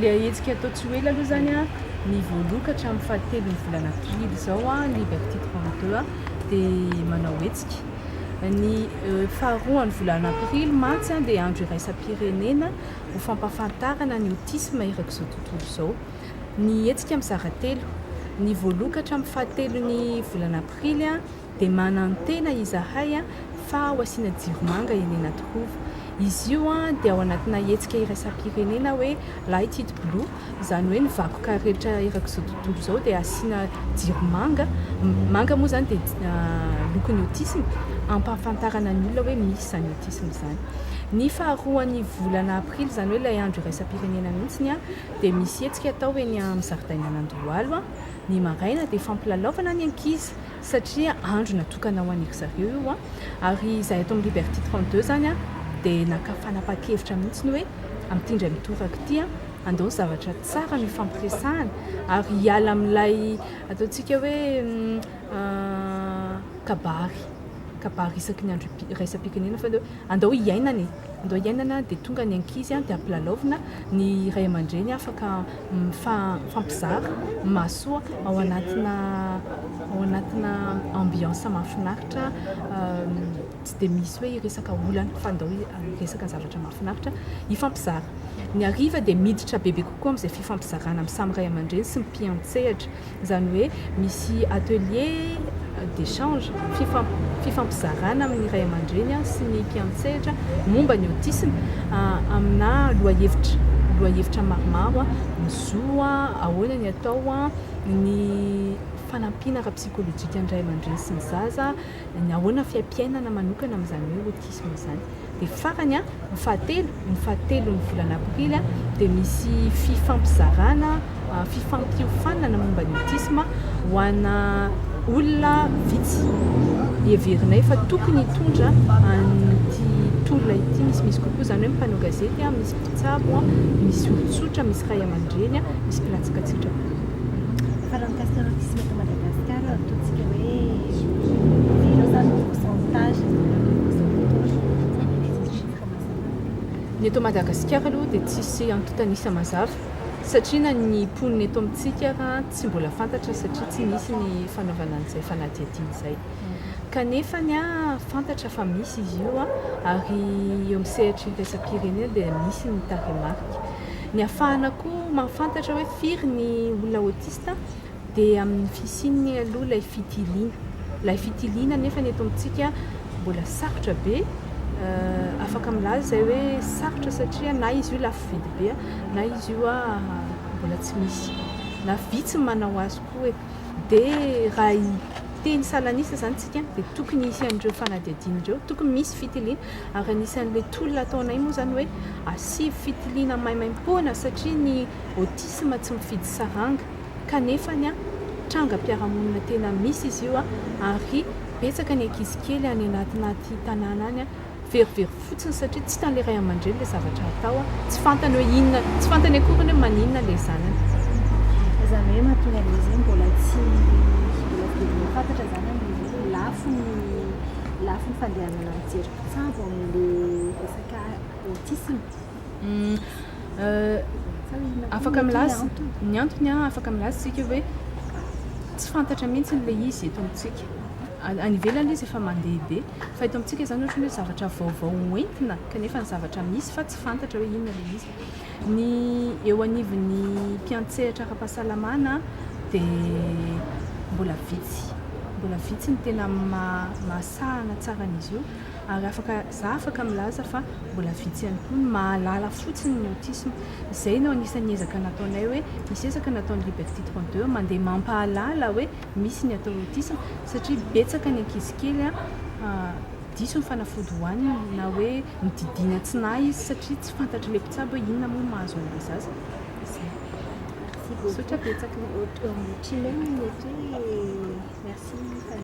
Ilay hetsika atao tsy ho ela aloha izany an, ny voaloka hatramin'ny fahatelon'ny volana aprily izao an, ny Vertitre 22 an, dia manao hetsika. Ny euh, faharoan'ny volana aprily mantsy an, dia andro iraisam-pirenena ho fampahafantarana ny autisme erak'izao tontolo izao. ny hetsika mizara telo. Ny voalokatra amin'ny fahatelon'ny volana aprily dia manantena izahay fa ho asiana jiro manga eny Anatohova. Izy io dia ao anatina hetsika iraisam-pirenena hoe Light it blue, izany hoe ny vakoka rehetra erak'izao tontolo izao dia asiana jiro manga. Manga moa izany dia lokon'ny autisme, hampahafantarana ny olona hoe misy izany autisme izany. Ny faharoan'ny volana aprily, izany hoe ilay andro iraisam-pirenena mihitsy, dia misy hetsika atao eny amin'ny zaridainan'Andohalo ny maraina dia fampilalaovana ny ankizy satria andro natokana ho an'iry zareo io ary izahay eto amin'ny Liberty 32 izany dia naka fanapahan-kevitra mihitsy ny hoe amin'ity indray mitoraka ity andao ny zavatra tsara no hifampiresahana ary hiala amin'ilay ataontsika hoe kabary kabary isaky ny andro iraisam-pirenena fa andao hiainana e! Ndao iainana dia tonga ny ankizy dia ampilalaovina, ny ray aman-dreny afaka mifampizara mahasoa ao anatina ao anatina ambiance mahafinaritra tsy dia misy hoe hiresaka olana fa ndao hiresaka zavatra mahafinaritra hifampizara. Ny hariva dia miditra bebe kokoa amin'izay fifampizarana amin'ny samy ray aman-dreny sy ny mpiantsehatra. Izany hoe misy atelier d'echange, fifampizarana amin'ny ray aman-dreny sy ny mpiantsehatra momba ny autisme aminà lohahevitra, lohahevitra maromaro, ny zo, ahoana ny atao, ny fanampiana ara-psikolojikan'ny ray aman-dreny sy ny zaza, ny ahoana fiaimpiainana manokana amin'izany hoe autisme izany. Dia farany, ny fahatelo, ny fahatelon'ny volana aprily dia misy fifampizarana, fifampiofanana momba ny autisme ho ana olona vitsy heverinay fa tokony hitondra an'ity tolona ity misimisy kokoa, izany hoe mpanao gazety, misy mpitsabo, misy olon-tsotra, misy ray aman-dreny, misy mpilatsikatsikitra koa. Fa raha mikasika ireo fisiana eto Madagasikara, ataontsika hoe ireo izany no pourcentage izany hoe grosso modo aloha izany hoe tsisy chiffre mazava. Ny eto Madagasikara aloha dia tsisy antontan'isa mazava satria na ny mponina eto amintsika ara tsy mbola fantatra satria tsy nisy ny fanaovana an'izay fanadihadiana izay. Kanefa ny ahy fantatra fa misy izy io ary eo amin'ny sehatry ny iraisam-pirenena dia misy ny tarehimarika. Ny hahafahana koa mahafantatra hoe firy ny olona autiste dia amin'ny fisian'ny aloha ilay fitiliana. Ilay fitiliana anefa eto amintsika mbola sarotra be, afaka milaza izay hoe sarotra satria na izy io lafo vidy be na izy io mbola tsy misy na vitsy ny manao azy koa e! Dia raha hiteny salan'isa izany isika dia tokony hisy an'ireo fanadihadiana ireo, tokony misy fitiliana. Ary anisan'ilay tolona ataonay moa izany hoe asivo fitiliana maimaimpoana satria ny autisme tsy mifidy saranga kanefa ny trangam-piarahamonina tena misy izy io ary betsaka ny ankizy kely any anatinaty tanàna any very very fotsiny satria tsy hitan'ilay ray aman-dreny ilay zavatra atao, tsy fantany hoe inona, tsy fantany akoriny hoe maninona ilay zanany. Izany hoe mahatonga an'ilay izy hoe mbola tsy mbola velona fantatra izany an, lafo ny lafo ny fandehanan'ny. Mijery mpitsabo amin'le resaka autisme. Afaka milaza ny antony an, afaka milaza tsika hoe tsy fantatra mihitsy le izy eto amintsika. Any ivelany izy efa mandehabe fa eto amintsika zany ohatrany hoe zavatra vaovao hoentina kanefa ny zavatra misy fa tsy fantatra hoe inona le izy. Ny eo anivon'ny mpiantsehatra ara-pahasalamana dia mbola vitsy, mbola vitsy ny tena mahasahana tsara an'izy io ary afaka, za afaka milaza fa mbola vitsy ihany koa ny mahalala fotsiny ny autisme. Izay no anisan'ny ezaka nataonay hoe, misy ezaka nataon'ny Liberty 32 mandeha mampahalala hoe misy ny atao hoe autisme satria betsaka ny ankizy kely diso ny fanafody hohaniny na hoe. Nodidiana tsy nahy izy satria tsy fantatr'ilay mpitsabo hoe inona moa no mahazo an'ilay zaza. Izay. Merci beaucoup. Misaotra betsaka. Au revoir. Merci.